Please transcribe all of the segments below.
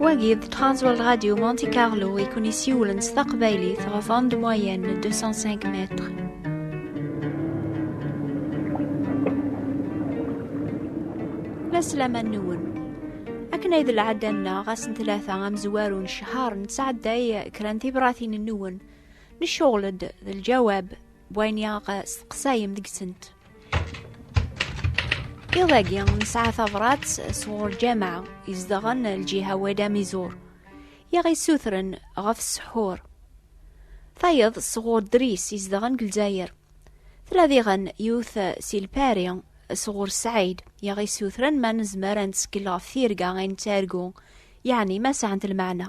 Wagi d Transworld Radio Monte Carlo i kun isiwlen s taqbaylit ɣef onde moyenne 205 mètres. Laslama nwen. Akken ay d lɛadda-nneɣ ass n tlata amezwaru n ccehar nettɛedday kra n tibratin nwen Neccuɣel-d d lǧawab n wayen i aɣ-steqsayem deg-sent. Iḍ-agi nesɛa tabrat sɣur lǧameɛ izedɣen lǧiha Wadi Amizur i aɣ-yessutren ɣef ssḥur. Tayeḍ sɣur Dris izedɣen deg Lezzayer. Tella diɣen yiwet si Lpari sɣur Sɛid i aɣ-yessutren ma nezmer ad nettkel ɣef tirga ay nettargu, yeɛni ma sɛant lmeɛna.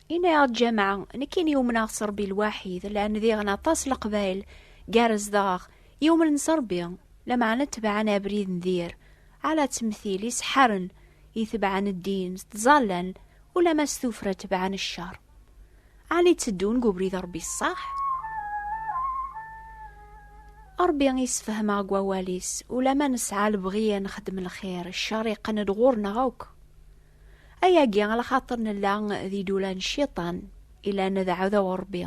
Yenna-yaɣ-d Ǧamaɛ, nekkini umneɣ s Ṛebbi lwaḥid, llan diɣen aṭas leqbayel, gar zdaɣ, yumnen s Ṛebbi, lameɛna tebɛen abrid n dir, ɛla ttemtil, iseḥḥaren, itebɛen ddin, s ttẓallan, ulamma s tuffra tebɛen cceṛ. Ɛni tteddun deg ubrid n Ṛebbi ṣṣeḥ? Ṛebbi isefhem-aɣ deg wawal-is, ulamma nesɛa lebɣi ad nexdem lxir, cceṛ iqqen-d ɣur-neɣ akk. Ayagi ala xaṭer nella d idula n cciṭan, ilan d ɛudaw Ṛebbi.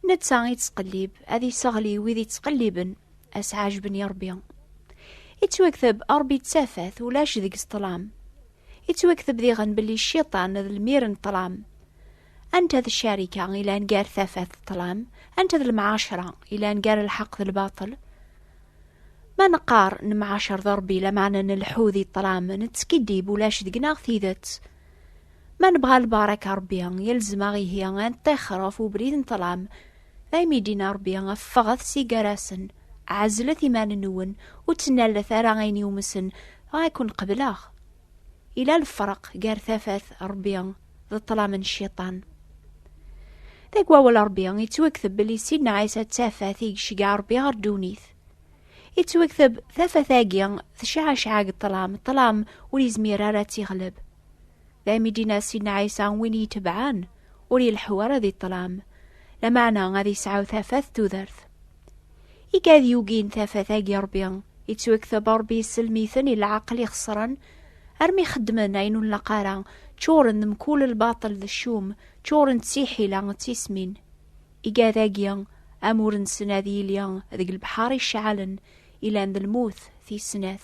Netta ittqellib, ad isseɣli wid ittqelliben, ad s-ɛajben i Ṛebbi. Ittwakteb Ṛebbi d tafat, ulac deg-s ṭṭlam. Ittwakteb diɣen belli cciṭan d lmir n ṭṭlam. Anta d ccarika ilan gar tafat d ṭṭlam? Anta d lemɛacra ilan gar lḥeqq d lbaṭel? Ma neqqar nemɛacer d Ṛebbi lameɛna nleḥḥu di ṭṭlam, nettskiddib, ulac deg-neɣ tidet. Ma nebɣa lbaṛaka n Ṛebbi, yelzem-aɣ ihi ad neṭṭixer ɣef ubrid n ṭṭlam. Daymi i d-yenna Ṛebbi, Ffɣet si gar-asen, ɛezlet iman-nwen, ur ttnallet ara ayen yumsen, dɣa ad ken-qebleɣ. ila lefreq gar tafat Rebbi d ṭṭlam n cciṭan. Deg wawal Rebbi, yettwakteb belli Sidna Ɛisa d tafat i yecga Rebbi ɣer ddunit. Yettwakteb tafat-agi tecɛacɛa deg ṭṭlam, ṭṭlam ur yezmir ara ad tiɣleb. D ayen i d-yenna Sidna Ɛisa win iyi-tebɛen, ur ileḥḥu ara di ṭṭlam, lameɛna ad yesɛu tafat tudert. i gad yugin tafat-agi ṛbi yettwakteb ṛbi yesselmiten i lɛaqel ixeṣren armi xeddmen ayen ur nlaq ara ččuren d mkul lbaṭel d ccum ččuren d tiḥila d tismin i gad-agi amur-nsen ad yili deg lebḥar icɛalen ilan d lmut tis snat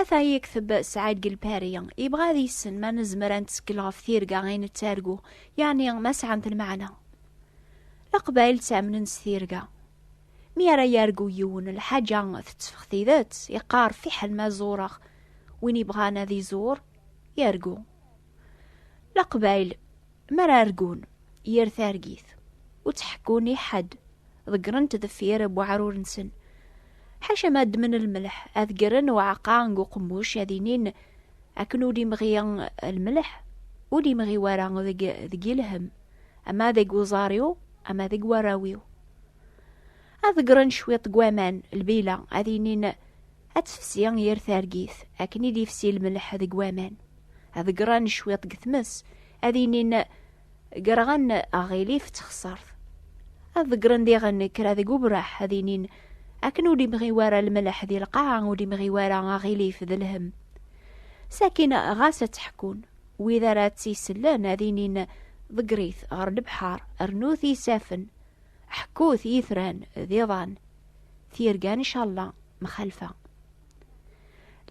Ata yekteb Sɛid Gelpari, yebɣa ad yessen ma nezmer ad nettkel ɣef tirga i nettargu, yeɛni ma sɛant lmeɛna. Leqbayel ttamnen s tirga. Mi ara yargu yiwen, lḥaǧa tetteffeɣ tidet, yeqqar fiḥel ma zureɣ. Win yebɣan ad izur, yargu. Leqbayel. Mi ara argun yir targit, ur tt-ḥekkun i ḥedd, ḍeggren-t deffir n weɛrur-nsen. Ḥaca ma ddmen lmelḥ, ad ggren uɛeqqa n uqemmuc, ad inin akken ur d-imɣi lmelḥ, ur d-imɣi wara deg deg i lhem, ama deg uẓar-iw, ama deg warraw-iw. Ad ḍeggren cwiṭ n waman, lbila, ad inin, Ad tefsi yir targit, akken i d-ifsi lmelḥ deg waman. Ad gren cwiṭ deg tmes, ad inin gerɣen aɣilif ttexsart. Ad ḍeggren diɣen kra deg ubraḥ, ad inin akken ur d-imɣi wara lmelḥ di lqaɛa, ur d-imɣi wara aɣilif d lhem. Sakin ɣas ad tt-ḥekkun, wid ara tt-isellen ad inin ḍegger-it ɣer lebḥer, rnu-t isafen, Ḥekkut i yitran d iḍan, tirga n icalla mxalfa.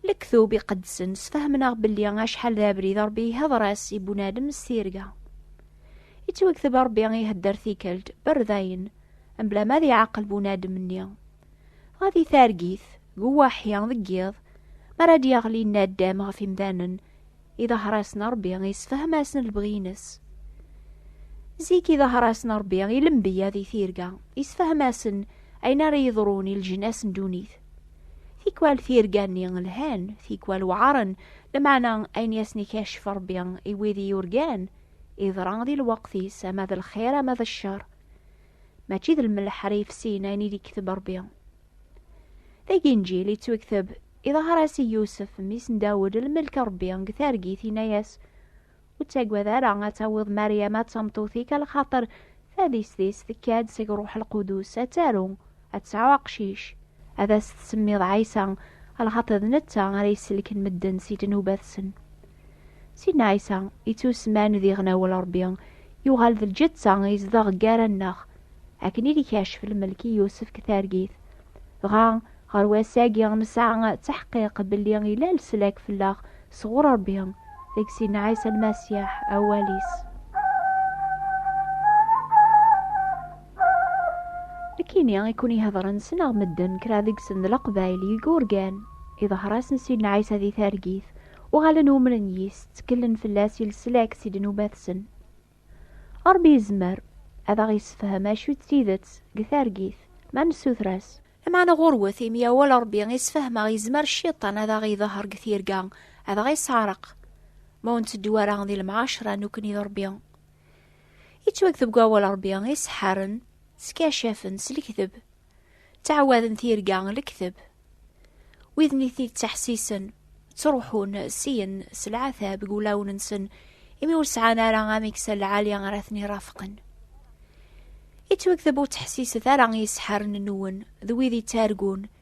Lektub iqedsen sfehmneɣ belli acḥal d abrid Rebbi ihedr-as i bunadem s tirga. Ittwakteb Rebbi ihedder tikelt berdayen, mebla ma ad iɛaqel bunadem-nni, Dɣa di targit, deg uwaḥi, deg yiḍ, mi ara d-yaɣli naddam ɣef imdanen, iḍahrasen Ṛebbi isefhem-asen lebɣi-ines. Zik iḍahrasen Ṛebbi i lembiya di tirga, isefhem-asen ayen ara yeḍrun i leǧnas n ddunit. Tikwal tirga-nni lhan, tikwal weɛren, lmeɛna ayen i asen-ikeccef Ṛebbi i wid i yurgan, iḍra di lweqt-is, ama d lxir ama d ccer. mačči d lmelḥ ara yefsiyen ayen i d-ikteb Rebbi. Dagi Inǧil yettwekteb, iḍher-as i Yusef, mmi-s n Dawed, lmelk n Rebbi deg targit, yenna-yas, Ur ttagad ara ad tawiḍ Maryama d tameṭṭut-ik, a lxaṭer tadist-is tekka-d seg Ṛuḥ Lqudus, ad taru, ad tesɛu aqcic, ad as-tsemmiḍ Ɛisa, lxaṭi d netta ara yesselken medden si ddnubat-sen. Sidna Ɛisa, ittusman d iɣnawel Ṛebbi, yuɣal d lǧetta, izdeɣ gar-anneɣ, akken i d-ikacef lmelk i Yusef deg targit. Dɣa, ɣer wass-agi, nesɛa ttaḥqiq belli yella leslak fell-aɣ sɣur Ṛebbi, deg Sidna Ɛisa Lmasiḥ, Awal-is. Nekkini i kun-ihedren sneɣ medden kra deg-sen d leqbaylig urgan iḍher-asen Sidna Ɛisa di targit, uɣalen umren yis, tteklen fell-as i leslak si ddnubat-sen. Ṛebbi yezmer ad aɣ-yessefhem acu d tidet deg targit ma nessuter-as. Lameɛna ɣurwet, imi awal Ṛebbi i sfehmeɣ yezmer Cciṭan ad aɣ-iḍher deg tirga, ad aɣ-isseɛreq ma ur nteddu ara di lemɛacra nekkni d Ṛebbi. Yettwakteb deg wawal n Ṛebbi, iseḥḥaren skacafen s lekdeb, ttɛawaden tirga n lekdeb. Widen i ten-yettaḥsisen, ttruḥun syin s leɛtab deg wulawen-nsen, imi ur sɛan ara amiksal lɛali ara ten-irafqen. Yettwakteb ur ttḥessiset ara i yiseḥḥaren-nwen d wid yettargun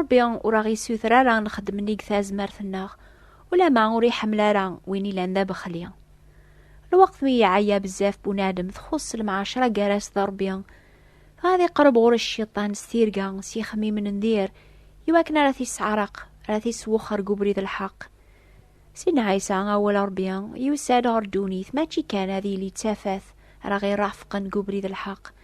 Ṛebbi ur aɣ-isuter ara ad nexdem nnig tazmert-nneɣ, ulamma ur iḥemmel ara win ilan d abexli. Lweqt mi iɛeyya bezzaf bunadem txuṣṣ lemɛacṛa gar-as d Ṛebbi, dɣa ad iqṛeb ɣur cciṭan s tirga, s yixemmimen n dir, iwakken ara t-isseɛreq, ara t-iswexxer deg ubrid n lḥeqq. Sidna Ɛisa, awal n Ṛebbi, yusa-d ɣer ddunit mačči kan ad yili d tafat ara ɣ-iṛafqen deg ubrid n lḥeqq,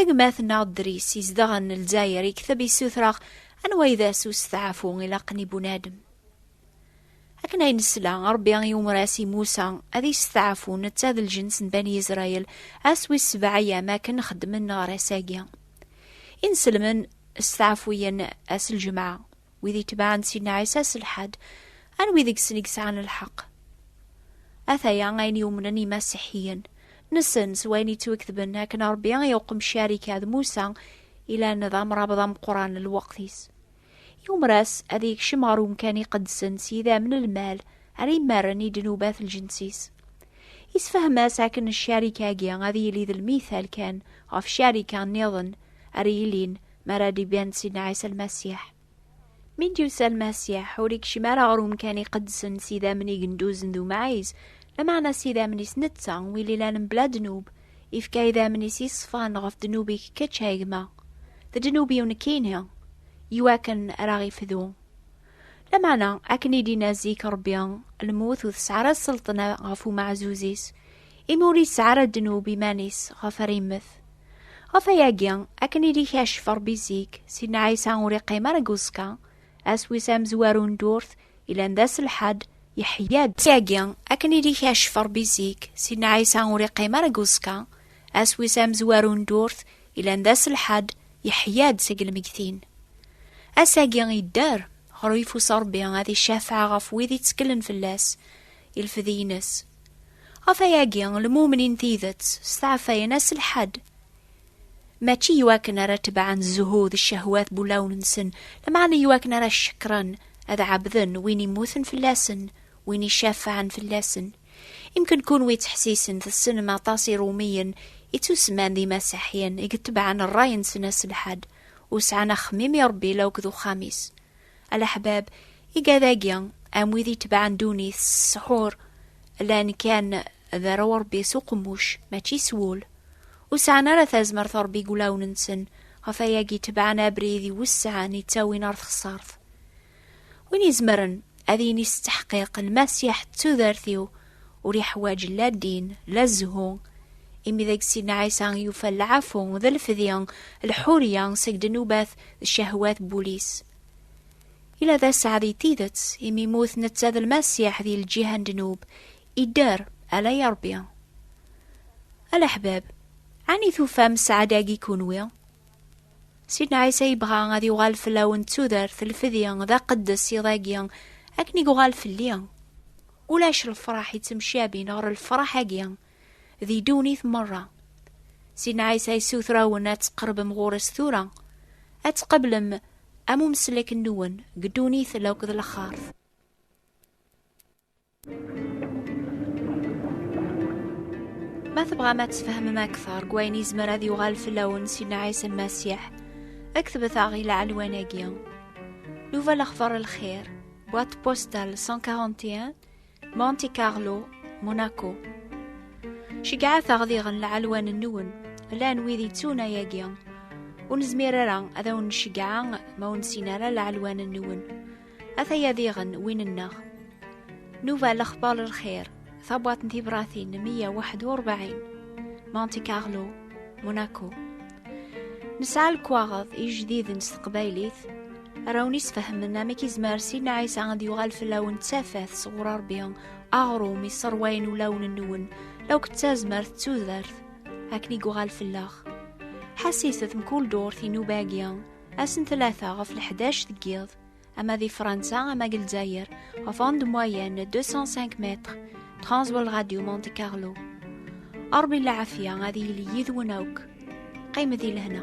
Agmat-nneɣ Dris izedɣen Lezzayer yekteb yessutreɣ anwa ay d ass usteɛfu ilaqen i bunadem. Akken ay nesla, Ṛebbi iwmer-as i Musa ad yesteɛfu netta d lǧens n Bani Israel ass wis sebɛa ayyam akken xeddmen ɣer ass-agi. Inselmen steɛfuyen ass lǧemɛa. wid itebɛen Sidna Ɛisa s lḥad, anwi deg-sen i yesɛan lḥeqq? Ataya ayen yumnen imasiḥiyen, nessen s wayen yettweketben akken Ṛebbi i uqemcar ikka d Musa ilan d amrabeḍ ameqqran n lweqt-is. Yumer-as ad yekcem ɣer umkan iqedsen s yidam n lmal ara imarren i ddnubat n lǧens-is. Yessefhem-as akken ccarika-agi ad yili d lmithal kan ɣef ccarika nniḍen ara yilin mi ara d-iban Sidna Ɛisa Lmasiḥ. Mi d-yusa Lmasiḥ, ur ikcim ara ɣer umkan iqedsen s idammen igenduzen d umɛiz, lameɛna s idammen-is netta, win ilan mebla ddnub, ifka idammen-is yeṣfan ɣef ddnub-ik kečč a gma, d ddnub-iw nekkini, iwakken ara ɣ-ifdu. Lameɛna, akken i d-inna zik Rebbi, lmut ur tesɛi ara sselṭna ɣef umeɛzuz-is, imi ur yesɛi ara ddnub iman-is ɣef ara immet. Ɣef ayagi, akken i d-ikacef Ṛebbi zik, Sidna Ɛisa ur iqqim ara deg uẓekka, ass wis amezwaru n ddurt, yellan d ass lḥad, yeḥya-d. Ɣef ayagi, akken i d-ikacef Ṛebbi zik, Sidna Ɛisa ur iqqim ara deg uẓekka, ass wis amezwaru n ddurt, yellan d ass lḥad, yeḥya-d seg lmeggtin. Ass-agi yedder, ɣer uyeffus n Ṛebbi, ad icafeɛ ɣef wid itteklen fell-as, ilfed-ines. Ɣef ayagi, lmumnin tidet steɛfayen-as lḥad, mačči iwakken ara tebɛen zzhu d ccehwat n ulawen-nsen, lameɛna iwakken ara cekkren, ad ɛebden win immuten fell-asen, win icafɛen fell-asen. Imken kunwi ttḥessisen tessnem aṭas Iṛumiyen i ttusemman d Imaseḥyen i itebɛen ṛṛay-nsen aselḥad, ur sɛan axemmim i Ṛebbi la akked uxxam-is. Alaḥbab, igad-agi, am wid itebɛen ddunit s ssḥur, llan kan d arraw n Ṛebbi s uqemmuc, mačči s wul. Ur sɛan ara tazmert n Ṛebbi deg wulawen-nsen, ɣef wayagi tebɛen abrid iwesɛen yettawin ɣer texṣaṛt. Win izemren ad yini s tteḥqiq, Lmasiḥ d tudert-iw, ur iḥwaǧ la ddin, la zzhu, imi deg Sidna Ɛisa i yufa lɛafu d lefdi, lḥurya seg ddnubat d ccehwat n wul-is. Ila d aseɛ di tidet, imi immut netta d Lmasiḥ di lǧiha n ddnub, idder, ala i Ṛebbi. A leḥbab, ɛni tufam sseɛd-agi kunwi? Sidna Ɛisa yebɣa ad yuɣal fell-awen d tudert, lefdi, d aqeddes iḍ-agi, akken i yuɣal fell-i. Ulac lefraḥ yettemcabin ɣer lefraḥ-agi di ddunit merra. Sidna Ɛisa yessuter-awen ad tqerbem ɣur-s tura, ad tqeblem am umeslek-nwen deg ddunit la akked lexxart. Ma tebɣam ad tfehmem akteṛ deg wayen yezmer ad yuɣal fell-awen Sidna Ɛisa Lmasiḥ, ktbet-aɣ i lɛelwan-agi. Nuva lexbar lxir, Boîte postale 141 Monte Carlo, Monaco. Cegɛat aɣdiɣen lɛalwan-nwen, llan wid yettun ayagi. Ur nezmir ara ad awen-ncegɛa ma ur nessin ara lɛalwan-nwen. Ataya diɣen win-nneɣ. Nuba lexbar lxir. tabwaḍt n tibratin 141 Monte Carlo Monaco nesɛa lekwaɣeḍ ijdiden s teqbaylit arawn isfehmen amek izmer Sidna Ɛisa ad yuɣal fell-awen d tafat sɣur Ṛebbi aɣrum iṣerwayen ulawen-nwen akk d tazmert d tudert akken i yuɣal fell-aɣ ḥassiset mkul durt inuba-agi ass n tlata ɣef leḥdac deg yiḍ ama di Fransa ama deg Lezzayer ɣef onde moyenne 205 mètres Transworld Radio Monte Carlo Ṛebbi lɛafya ad yili yid-wen akk qqim di lehna